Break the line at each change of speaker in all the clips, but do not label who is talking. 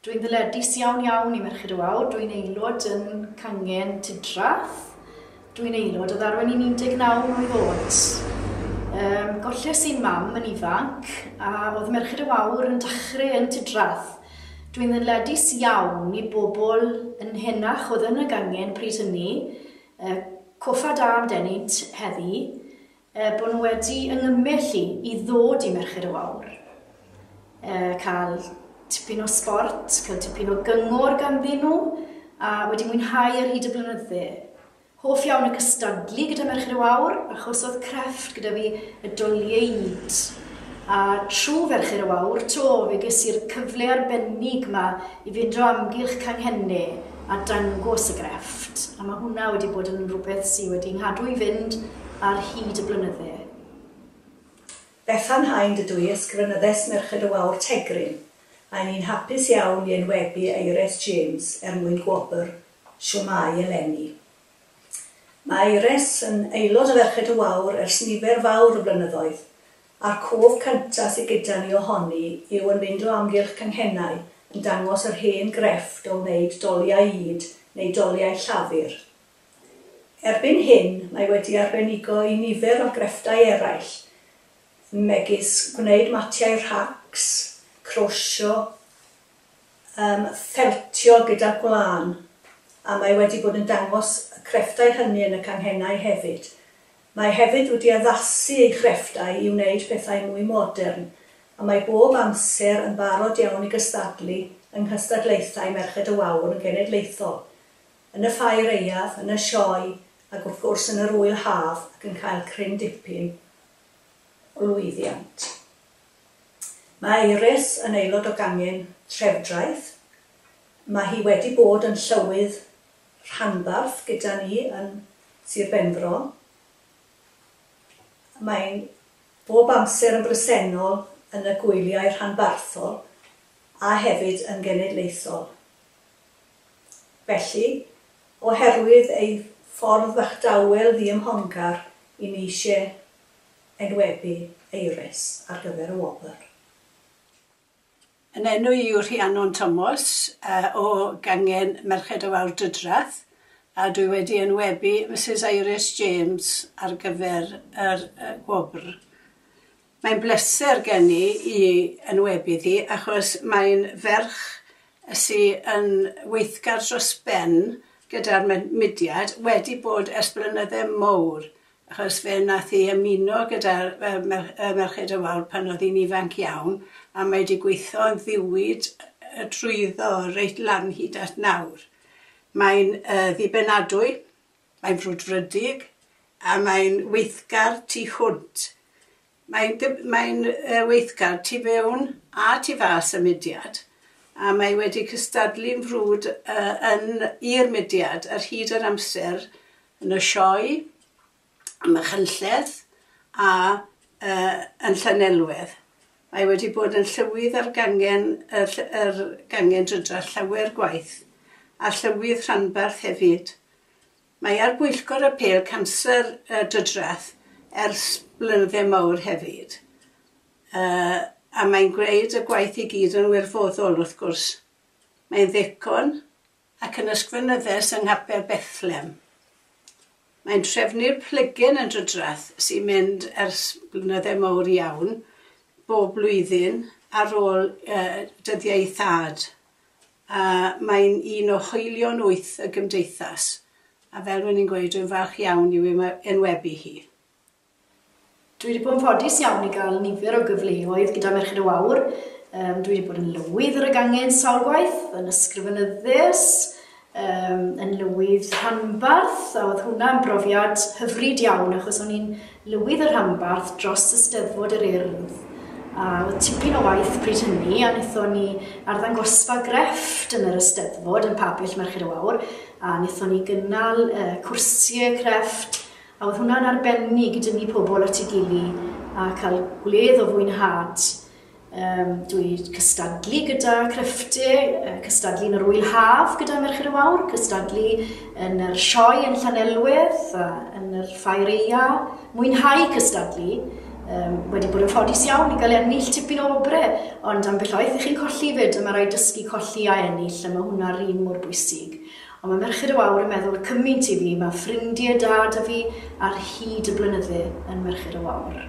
Dwi'n ddyledus iawn iawn i Merched y Wawr, dwi'n aelod yn Cangen Tudrath, dwi'n aelod o ddarwen i'n 19 mlwydd oed. Yym, golles i'n mam yn ifanc, a oedd Merched y Wawr yn dachre yn Tudrath. Dwi'n ddyledus iawn i bobl yn henach oedd yn y gangen pryd hynny, yy, coffa da am denynt heddi, Er bod nhw wedi yngymmellu i ddod i Merched y Wawr, cael tipyn o sbort, cael tipyn o gyngor ganddyn nhw, a wedi mwynhau ar hyd y blynydde. Hoff iawn y cystadlu gyda Merched y Wawr, achos oedd crefft gyda fi y doliaid. A trwy Ferched y Wawr 'to, fe ges i'r cyfle arbennig 'ma i fynd o amgylch canghenne a dangos y grefft, a mae hwnna wedi bod yn rhywbeth sydd wedi nghadw i fynd ar hyd y blynydde. Bethan
Hind ydw i, ysgrifenyddes Merched y Wawr Tegrin, a 'yn ni'n hapus iawn i enwebu Eires James er mwyn gwobr Shwmae eleni. Mae Eires yn aelod o Ferched y Wawr ers nifer fawr o flynyddoedd, A'r cof cynta sy gyda ni ohoni yw yn mynd o amgylch canghennau yn dangos yr hen grefft o wneud doliau ŷd neu doliau llafur. Erbyn hyn mae wedi arbenigo i nifer o grefftau eraill megis gwneud matiau rhacs, crosio, yym ffeltio gyda gwlân a mae wedi bod yn dangos y crefftau hynny yn y canghennau hefyd. Mae hefyd wedi addasu ei chrefftau i wneud pethau mwy modern, a mae bob amser yn barod iawn i gystadlu yng nghystadlaethau Merched y Wawr yn genedlaethol, yn y Ffair Aeaf, yn y Sioe, ac wrth gwrs yn yr Ŵyl Haf ac yn cael cryn dipyn o lwyddiant. Mae Iris yn aelod o gangen Trefdraeth. Mae hi wedi bod yn Llywydd rhanbarth gyda ni yn Sir Benfro. Mae'n bob amser yn bresennol yn y gwyliau rhanbarthol a hefyd yn genedlaethol. Felly, oherwydd ei ffordd fach dawel ddiymhongar, i ni eisiau enwebu Eires ar gyfer y wobr. Yn
enw i yw Rhiannon Tomos o gangen Merched y Wawr Dwydrath a dwi wedi enwebu Misus Iris James ar gyfer yr gwobr. Mae'n bleser gen i i enwebu ddi achos mae'n ferch sy yn weithgar dros ben gyda'r mudiad, wedi bod ers blynydde mowr Achos fe nath hi ymuno gyda Merched y Wawr pan oedd hi'n ifanc iawn a mae 'di gweithio yn ddiwyd drwyddo reit lan hyd at nawr. Mae'n ddibenadwy, mae'n frwdfrydig a mae'n weithgar tu hwnt. Mae'n mae'n weithgar tu fewn a tu fas y mudiad a mae wedi cystadlu'n frwd yn i'r mudiad ar hyd yr amser yn y Sioe, ym Machynlleth a yn Llanelwedd. Mae wedi bod yn llywydd ar gangen y yr gangen drydrall llawer gwaith, a llywydd rhanbarth hefyd. Mae ar bwyllgor apêl canser y drydrall ers blynydde mawr hefyd. Yy a mae'n gwneud y gwaith i gyd yn wirfoddol wrth gwrs. Mae'n ddicon. ac yn ysgrifenyddes yng nghapel Bethlem. Mae'n trefnu'r plygen yn drydrath sy'n mynd ers blynydde mawr iawn bob blwyddyn ar ôl dyddiau ei thad, a mae'n un o hoelion wyth y Gymdeithas, a fel rwy'n i'n gweud, rwy'n falch iawn i'w enwebu hi.
Dwi wedi bod yn ffodus iawn i gael nifer o gyfleoedd gyda Merched y Wawr. Um, dwi wedi bod yn lywydd yr ygangen sawl gwaith, yn ysgrifenyddus, um, yn lywydd rhanbarth, a oedd hwnna'n brofiad hyfryd iawn, achos o'n i'n lywydd y rhanbarth dros y steddfod yr urdd a oedd tipyn o waith pryd hynny a wnaethon ni arddangosfa grefft yn yr Eisteddfod yn Pabell Merched y Wawr a wnaethon ni gynnal uh, cwrsiau crefft A oedd hwnna'n arbennig i dynnu pobl at ei gili a cael gwledd o fwynhad. Um, dwi cystadlu gyda creffte, cystadlu yn yr wyl haf gyda Merched y Wawr, cystadlu yn yr sioe yn Llanelwedd, a yn yr ffair eia, mwynhau cystadlu. Um, wedi bod yn ffodus iawn i gael ennill tipyn o obrau, ond am bell oeth i chi'n colli fyd, a mae rhaid dysgu colli a ennill, a mae hwnna'r un mor bwysig. Ond mae Merched y Wawr yn meddwl cymint i fi, mae ffrindie da 'da fi ar hyd y blynydde yn Merched y Wawr.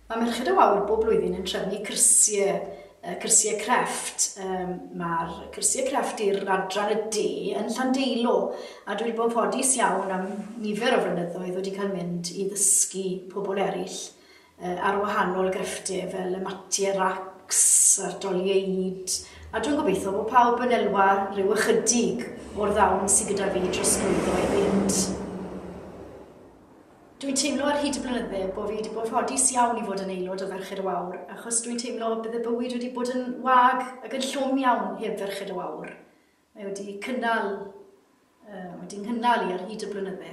Mae Merched y Wawr bob blwyddyn yn trefnu cyrsie, yy cyrsie crefft, yym ma'r cyrsie crefft i'r adran y de yn Llandeilo, a dwi 'di bod yn ffodus iawn am nifer o flynyddoedd wedi cael mynd i ddysgu pobl eryll ar wahanol grefftau fel y matiau racs a'r dolieid, a dwi'n gobeithio bod pawb yn elwa rhyw ychydig o'r ddawn sydd gyda fi trosglwyddo i fynd. Dwi'n teimlo ar hyd y blynydde bod fi wedi bod rhodus iawn i fod yn aelod o Ferched y Wawr, achos dwi'n teimlo bydd y bywyd wedi bod yn wag ac yn llwm iawn heb Ferched y Wawr. Mae wedi cynnal, uh, wedi nghynnal i ar hyd y blynydde.